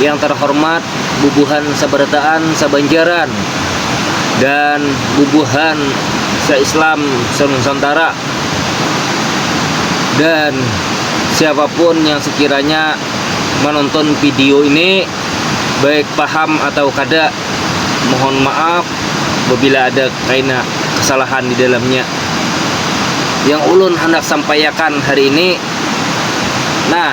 yang terhormat bubuhan sabarataan sabanjaran dan bubuhan sa Islam sa Nusantara dan siapapun yang sekiranya menonton video ini baik paham atau kada mohon maaf babila ada kaina kesalahan di dalamnya yang ulun handak sampaiakan hari ini nah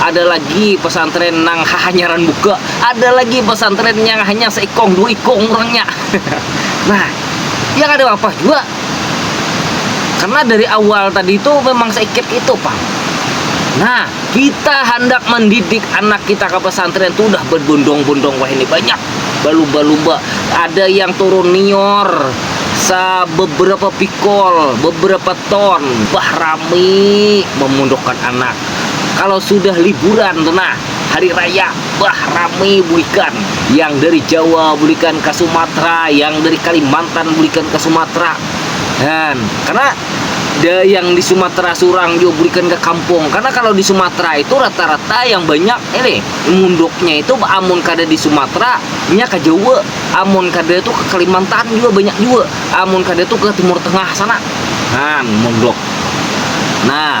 Ada lagi pesantren nang hahanyaran buka, ada lagi pesantren nyang hanya seikong dua ikong urangnya. Nah, ya kada apa-apa jua. Karena dari awal tadi tu memang seikit itu pang. Nah, kita handak mendidik anak kita ke pesantren tu udah berbondong-bondong wahini banyak, balumba-lumba. Ada yang turun nior sa beberapa pikol, beberapa ton. Bah rami memundukkan anak. Kalau sudah liburan tu nah, hari raya, bah rami bulikan. Yang dari Jawa bulikan ka Sumatra, yang dari Kalimantan bulikan ka Sumatra. Kan, karena da yang di Sumatra surang jua bulikan ka kampung. Karena kalau di Sumatra itu rata-rata yang banyak ini munduknya itu amun kada di Sumatra nya ka Jawa, amun kada tu ka Kalimantan jua banyak jua, amun kada tu ka Timur Tengah sana. Nah, munduk. Nah.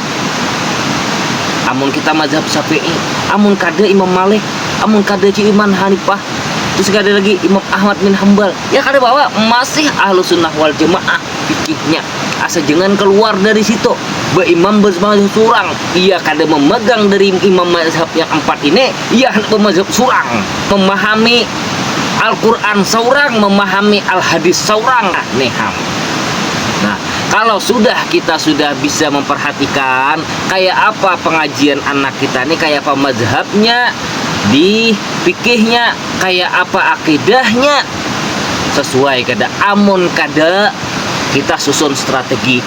Amun kita mazhab Syafi'i, amun kada Imam Malik, amun kada Iman Hanifah, terus kada lagi Imam Ahmad bin Hambal, ya kada bawa, masih Ahlus Sunnah wal Jamaah fikihnya. Asa jangan kaluar dari situ, baimam mazhab surang, iya kada mamagang dari imam mazhab yang ampat ini, iya handak bamazhab surang, mamahami Al-Qur'an saurang, mamahami Al-Hadis saurang. Nah, ni ham. Nah, kalau sudah kita sudah bisa memperhatikan kayak apa pengajian anak kita nih kayak apa mazhabnya di fikihnya kayak apa akidahnya sesuai kada amun kada kita susun strategi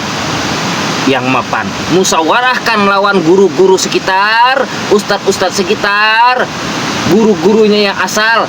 yang mapan musawarahkan lawan guru-guru sekitar ustad-ustad sekitar guru-gurunya yang asal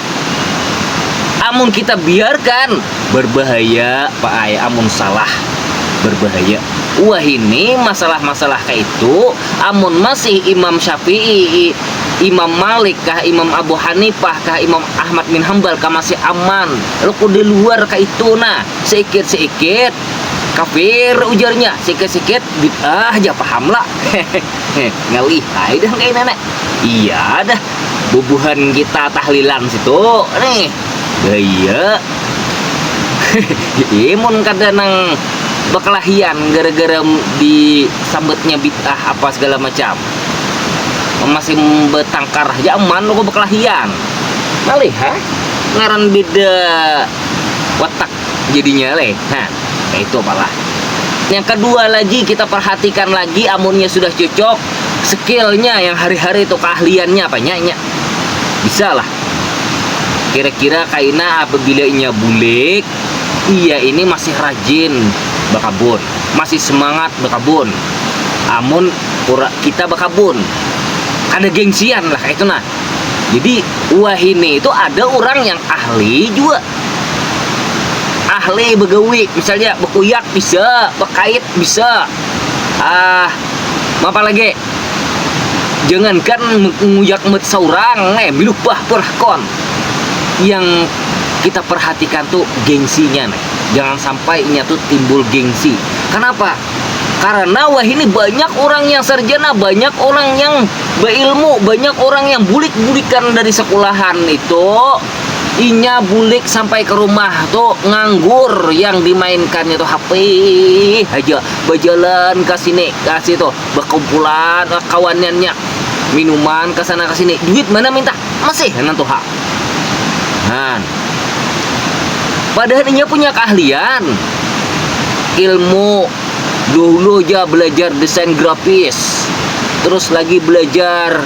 amun kita biarkan berbahaya pak ay amun salah berbahaya wahini masalah-masalah kaitu amun masih imam syafi'i imam malik kah imam abu hanifah kah imam ahmad bin hambal kah masih aman laku di luar kaitu nah seikit-seikit kafir ujarnya seikit-seikit bid'ah ja paham la hehehe ngalih ay dah kaya nana iya dah bubuhan kita tahlilan situ nih iya imun kada nang bakalahian gara-gara disambutnya bid'ah apa segala macam masih batangkar haja aman aku bakalahian ngalih ha ngaran beda watak jadinya leh ha kaya itu apalah yang kedua lagi kita perhatikan lagi amunnya sudah cocok skillnya yang hari-hari itu keahliannya apa nya nya bisa lah kira-kira kaina apabila inya bulik iya ini masih rajin bakabun masih semangat bakabun amun kita bakabun kada gengsian lah kaitu nah jadi wahini itu ada urang yang ahli jua ahli bagawi misalnya bakuyak bisa bakait bisa. Ah, mapa lagi? Jangankan nguyak mut saurang, eh biluh bah perhakon. Yang kita perhatikan tu gengsinya nih. Jangan sampai inya tu timbul gengsi. Kanapa? Karena wahini banyak urang yang sarjana, banyak urang yang bailmu, banyak urang yang bulik-bulikan dari sekulahan itu, inya bulik sampai ke rumah tu nganggur yang dimainkannya tu HP haja bajalan ka sini ka situ bakumpulan ah, kawanannya minuman ke sana ke sini duit mana minta masih nan tuh ha han padahal inya punya keahlian ilmu dulu aja belajar desain grafis terus lagi belajar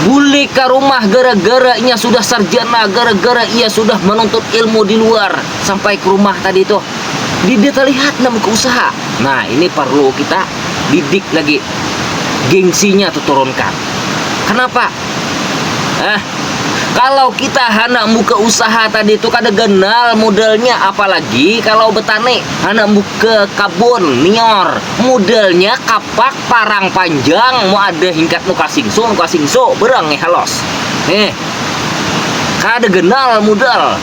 Bulik ka rumah gara-gara inya sudah sarjana, gara-gara ia sudah manuntut ilmu di luar. Sampai ke rumah tadi tuh. Didi terlihat nah buka usaha. Nah, ini perlu kita didik lagi. Gengsinya tuh turunkan. Kenapa? Eh, kalau kita hendak buka usaha tadi itu kada ganal modalnya, apalagi kalau betani, hendak buka kabun, nior, modalnya kapak parang panjang mu ada hingkat nu kasingsu nu kasingsu berang nih halos nih kada genal mudal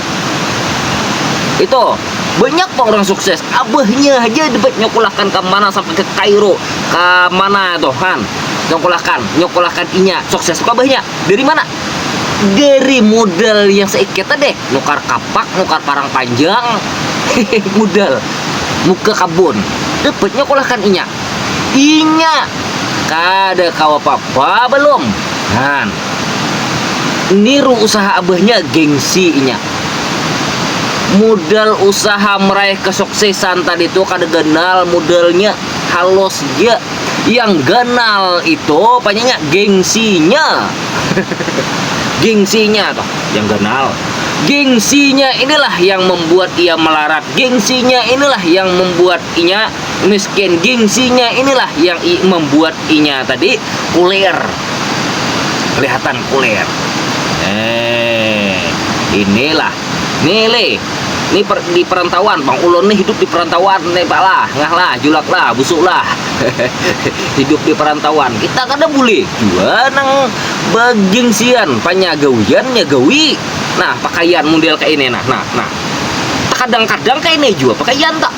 itu banyak pang orang sukses abahnya aja dapat nyokolahkan ke mana sampai ke Kairo ke mana itu kan nyokolahkan nyokolahkan inya sukses ke abahnya dari mana dari modal yang seikit tadi nukar kapak nukar parang panjang modal muka kabun dapat nyokolahkan inya Inya kada kawa papa balum. Haan. Niru usaha abahnya gengsi inya. Mudal usaha meraih kesuksesan tadi tu kada ganal mudalnya, halus ja. Yang ganal itu panya nya gengsinya. gengsinya tu yang ganal. Gengsinya inilah yang membuat ia melarat. Gengsinya inilah yang membuat inya miskin gengsinya inilah yang i, membuat inya tadi kuler kelihatan kuler eh inilah nih le nih per, di perantauan bang ulun nih hidup di perantauan nih pak lah ngah lah julak lah busuk lah hidup di perantauan kita kada boleh jua nang begengsian panyagawiannya gawi nah pakaian model kayak ini nah nah nah kadang-kadang kayak ini juga pakaian tak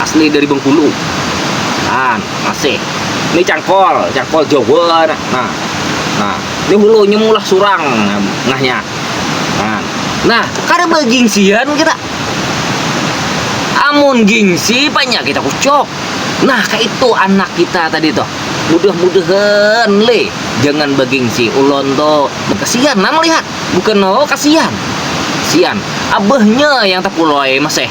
asli dari Bengkulu nah masih ini cangkol cangkol Jawa nah nah ini hulunya mulah surang ngahnya nah nah kada bagingsian kita amun gingsi banyak kita kucuk nah kaitu anak kita tadi tuh mudah-mudahan le jangan bagingsi ulon tuh kasian nah melihat bukan oh kasian sian abahnya yang tapulai masih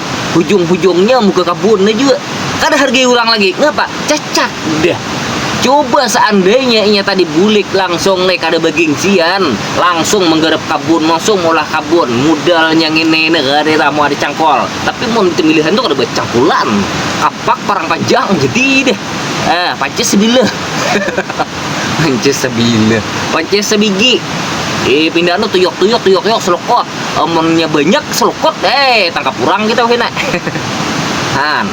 hujung-hujungnya muka kabun ne jua kada hargai urang lagi, ngapa cacat dah, coba seandainya inya tadi bulik langsung ne kada bagingsian langsung menggarap kabun langsung maulah kabun mudalnya ngini ne kada ira mau ada cangkol, tapi mun temilihan tu kada bacangkulan, kapak parang panjang jadi dah, ah pacis bila. Onces sabila. Onces sabigi. Eh pindah nu tuyok tuyok tuyok tuyok selokot. Amunnya banyak selokot eh tangkap kurang kita kena. Han.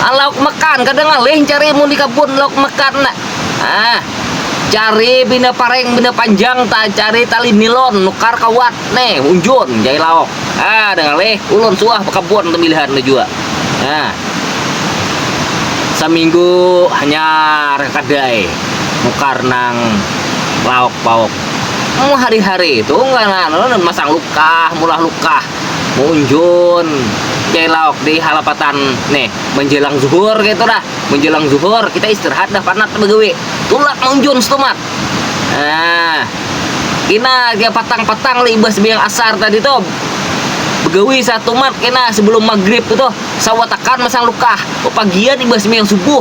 Ah, lauk makan kada ngalih cari mun di kabun lauk makan nak. Ah. Cari bina pareng bina panjang ta cari tali nilon nukar kawat nih unjun jai lauk. Ah, ada ngalih ulun suah bakabun tabilihan tu jua. Nah, saminggu hanyar kadai nukar nang lauk pauk mau hari hari tu masang lukah mulah lukah maunjun cari lauk di halapatan nih manjelang zuhur kaitu dah manjelang zuhur kita istirahat dah panat bagawi tulak maunjun stumat. Nah, kena kayak patang-patang lah ibas biang asar tadi tuh. Begawi satu mat kena sebelum maghrib tuh. Sawatakan masang lukah. Papagian ibas biang subuh.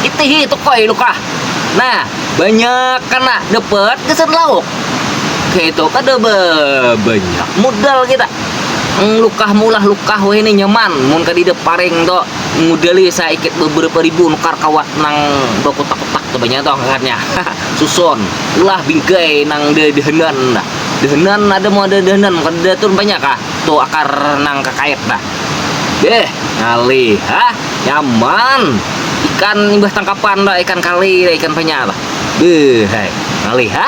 Itihi tukoi lukah. Nah, banyak kena dapat kesan lauk. Kayak itu kada banyak modal kita. Lukah mulah lukah weh ini nyaman. Mun kadida paring tuh modali saikit beberapa ribu nukar kawa nang bakutak Tebanya tu angkatnya. Susun. Ulah bingkai nang de dehenan dah. Dehenan ada mau ada dehenan kada ada tu banyak kah tu akar nang kakait dah. Beh, ngalih ha. Nyaman. Ikan imbah tangkapan dah ikan kali dah ikan banyak dah. Beh, hai. Ngalih ha.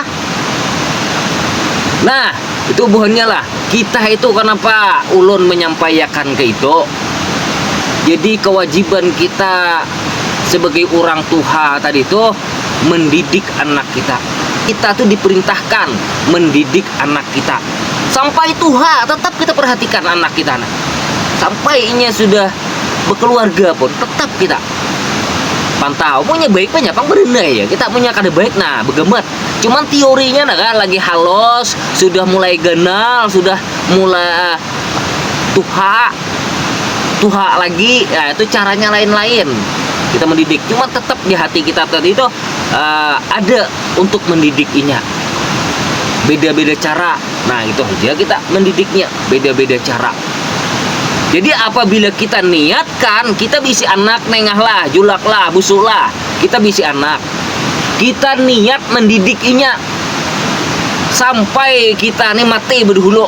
Nah, itu buhannya lah. Kita itu kenapa ulun menyampaiakan ke itu? Jadi kewajiban kita sebagai orang tuha tadi tuh mendidik anak kita. Kita tuh diperintahkan mendidik anak kita. Sampai tuha tetap kita perhatikan anak kita. Nah. Sampai inya sudah berkeluarga pun tetap kita pantau punya baik punya pang berenai ya kita punya kada baik nah begemet cuman teorinya nah kan lagi halos sudah mulai ganal sudah mulai eh, tuha tuha lagi ya itu caranya lain-lain kita mendidik cuma tetap di hati kita tadi itu uh, ada untuk mendidik inya beda-beda cara nah itu aja kita mendidiknya beda-beda cara jadi apabila kita niatkan kita bisi anak nengah lah julak lah busuk lah kita bisi anak kita niat mendidik inya sampai kita nih mati berdulu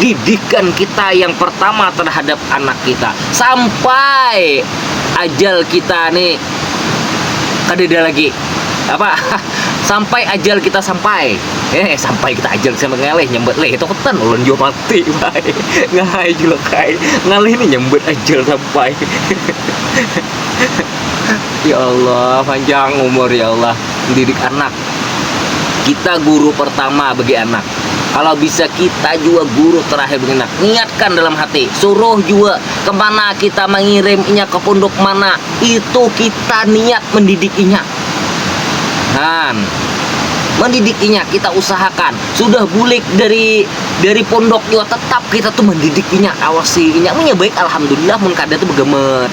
didikan kita yang pertama terhadap anak kita sampai ajal kita nih kadeda lagi apa sampai ajal kita sampai eh sampai kita ajal sampai ngalih nyambut leh itu ketan ulun jua mati bay ngalih jua kai ngalih nih nyambut ajal sampai ya Allah panjang umur ya Allah mendidik anak Kita guru pertama bagi anak. Kalau bisa kita jua guru terakhir bagi anak. Niatkan dalam hati, suruh jua kemana kita mengirim inya ke punduk mana, itu kita niat mendidik inya. Kan? Mendidik inya kita usahakan. Sudah bulik dari dari pondok jua tetap kita tuh mendidik inya, awasi inya. Munnya baik alhamdulillah, mun kada tuh begemet.